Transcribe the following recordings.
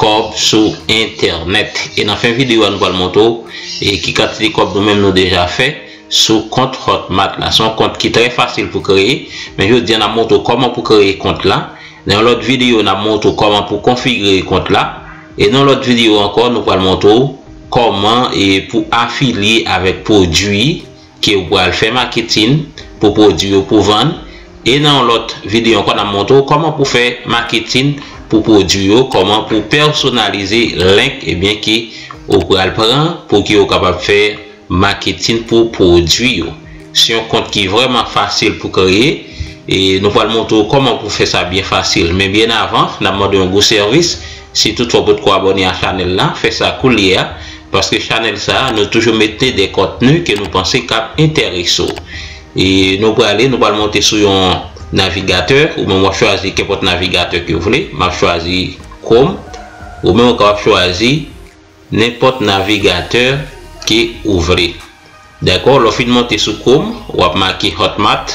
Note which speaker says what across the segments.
Speaker 1: kòb sou entènèt e nan fen video a nou pral montre w e ki kantite kòb nou menm nou deja fè sou kont hotmart la se yon kont ki trè fasil pou kreye men jodi a nap montre w kòman pou kreye kont la nan yon lòt video nap montre w kòman pou konfigire kont la e nan yon lòt video ankò nou pral montre w kòman e pou afilye avèk pwodwi ke ou pral fè maketin pou pwodwi ou pou vann e nan yon lòt video ankò nap montre ou kòman pou fè maketin pou pwodwi ou kòman pou pèsonalize link ebyen ke ou pral pran pou ke ou kapab fè maketin pou pwodwi ou se yon kont ki vrèman fasil pou kreye e nou pral montre ou kòman pou fè sa byen fasil men byen avan nap mande yon gwo sèvis Si tout fwa w potko abòne a chanèl la, fè sa koulye a, paske chanèl sa a nou toujou mete de kontni ke nou panse kap enterese w. E nou prale, nou pral monte sou yon navigatè, ou menm wap chwazi kenpòt navigatè ke w vle, map chwazi Chrome, ou menm ou kapab chwazi nenpòt navigatè ke ou vle. Dakò, lè w fin monte sou Chrome, wap make Hotmart.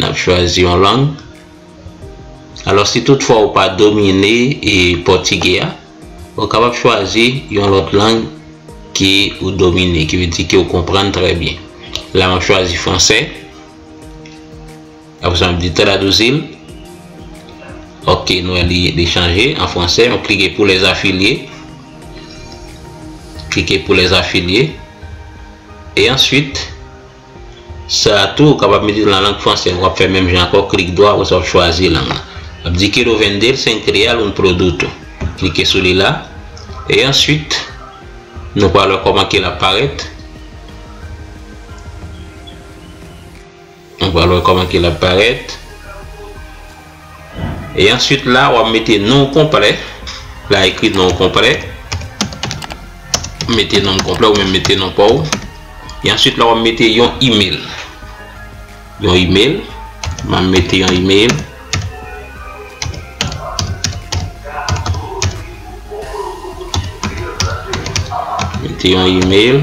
Speaker 1: Nap chwazi yon lang. Alò si tout fwa ou pa domine e pòtigè a, ou kapab chwazi yon lòt lang ke ou domine, ki vle di ke ou konprann trè byen. La map chwazi fransè. Apre sa map di traduzir l. Ok, nou wè li li chanje an fransè. Map klike pou les affiliés. Klike pou les affiliés. E answit. Sa a tou, ou kapab mete l nan lang franse. W ap fè menm jan ankò, klik dwa, apre sa w ap chwazi lang lan. L ap di Quiero vender cent real un producto. Klike sou li la. E answit, nou pral wè kòman ke l ap parèt. Nou pral wè kòman ke l ap parèt. e answit la wap mete nonw konplè la ekri nonw konplè mete nonm konplè ou menm mete non paw e answit la wap mete yon email yon email map mete yon email mete yon email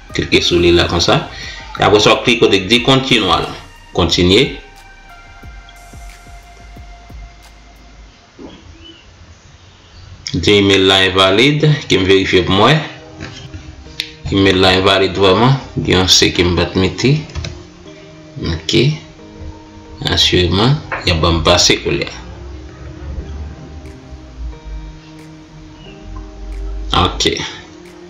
Speaker 1: Klike sou li la konsa. E apre sa wap klike kote ki di Continual. Kontinye. Li di email la envalid. Kem verifye pou mwen. Email la envalid vreman. Gen yon se kem bat mete. Ok. Assureman. Ya banm pase kou liya. Ok.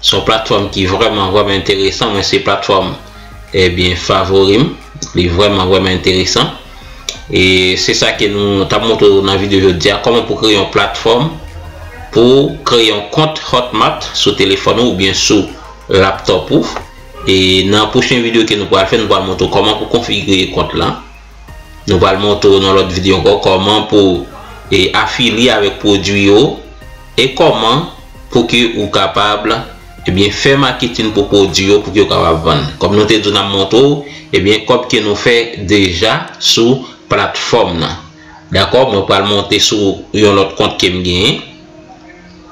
Speaker 1: Se yon platfòm ki vrèman vrèman enteresan mwen se platfòm ebyen favorim li vrèman vrèman enteresan e se sa ke nou tap montre ou nan video jodia kòman pou kreye yon platfòm pou kreye yon kont hotmart sou telefòn ou oubyen sou laptop ou e nan pwochen video ke nou pral fè nou pral montre ou kòman pou konfigire kont lan. Nou pral montre w nan lòt video ankò kòman pou e afilye avèk pwodwi yo e kòman pou ke ou kapab ebyen fè maketin pou pwodwi yo pou ke ou kapab vann. Kòm nou te di w nan montre w ebyen kòb ke nou fè deja sou platfòm nan. Dakò mwen pral monte sou yon lòt kont kem genyen.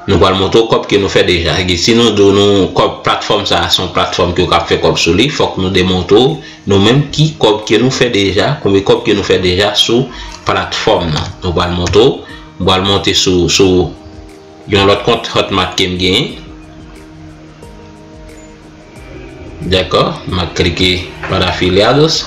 Speaker 1: Nou pral montre w kòb ke nou fè deja. Egi si nou di w nou kòb platfòm sa a se yon platfòm ke w kab fè kòb sou li, fòk nou demontre w nou menm ki kòb ke nou fè deja, konbe kòb ke nou fè deja sou platfòm nan. Nou pral montre w. M pral monte sou sou yon lòt kont Hotmart ke m genyen. Dakò, m ap klike para afiliados.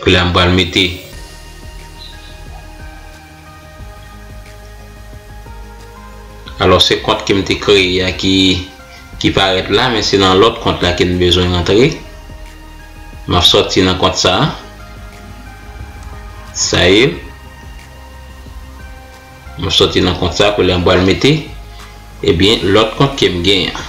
Speaker 1: Koulya m pral mete Alò se kont ke m te kreye a ki ki parèt la men se nan lòt kont la ke n bezwen rantre. M ap sòti nan kont sa a. Sa ye. M ap sòti nan kont sa a. Koulya m pral mete ebyen lòt kont ke m gen an.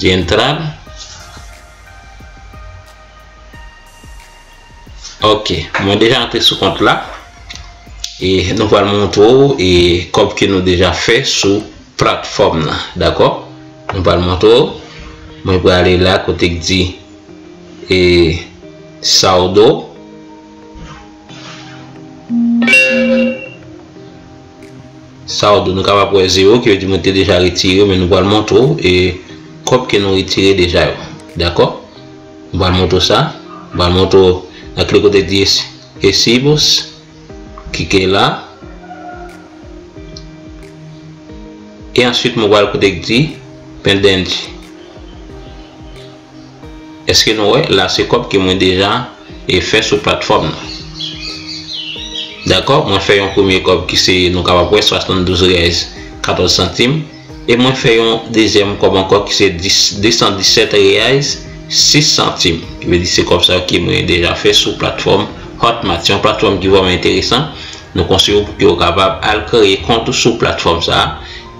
Speaker 1: Gentrad Ok, mwen deja antre sou kont la E nou pral montre ou e kòb ke nou deja fè sou platfòm nan Dakò, nou pral montre ou Mwen pral ale la kote k di E Saldo Saldo, nou kapab wè 0 ki vle di mwen te deja retire men nou pral montre w e kòb ke nou retire deja yo. Dakò? Nou pral montre w sa. Nou pral montre w nan kle kote di Recibos. Klike la. E answit mwen pral kote ki di Pendente. Eske nou wè la se kòb ke mwen deja e fè sou platfòm nan. Dakò mwen fè yon premye kòb ki se nou kapab wè 72 rèz 14 santim e mwen fè yon dezyèm kòb ankò ki se 217 reais 6 santim ki vle di se kòb sa ki mwen deja fè sou platfòm Hotmart. Se yon platfòm ki vrèman enteresan nou konseye ou pou ke ou kapab al kreye kont ou sou platfòm sa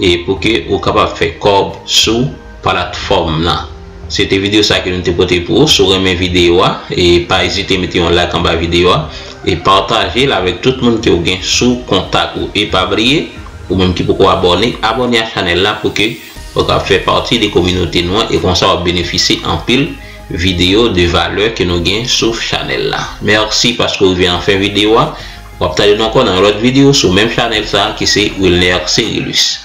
Speaker 1: e pou ke ou kapab fè kòb sou platfòm nan. Se te video sa ke nou te pote pou ou, si w renmen video a e pa ezite mete yon like anba video a e pataje l avèk tout moun ke w gen sou kontak ou e pa bliye ou menm ki poko abòne, abòne a chanèl la pou ke ou kab fè pati de kominote nou an e konsa wap benefisye anpil video de valè ke nou gen sou chanèl la. Mèsi paske w rive nan fen video a, wap tande nou ankò nan yon lòt video sou menm chanèl sa ki se Wilner Cerilus.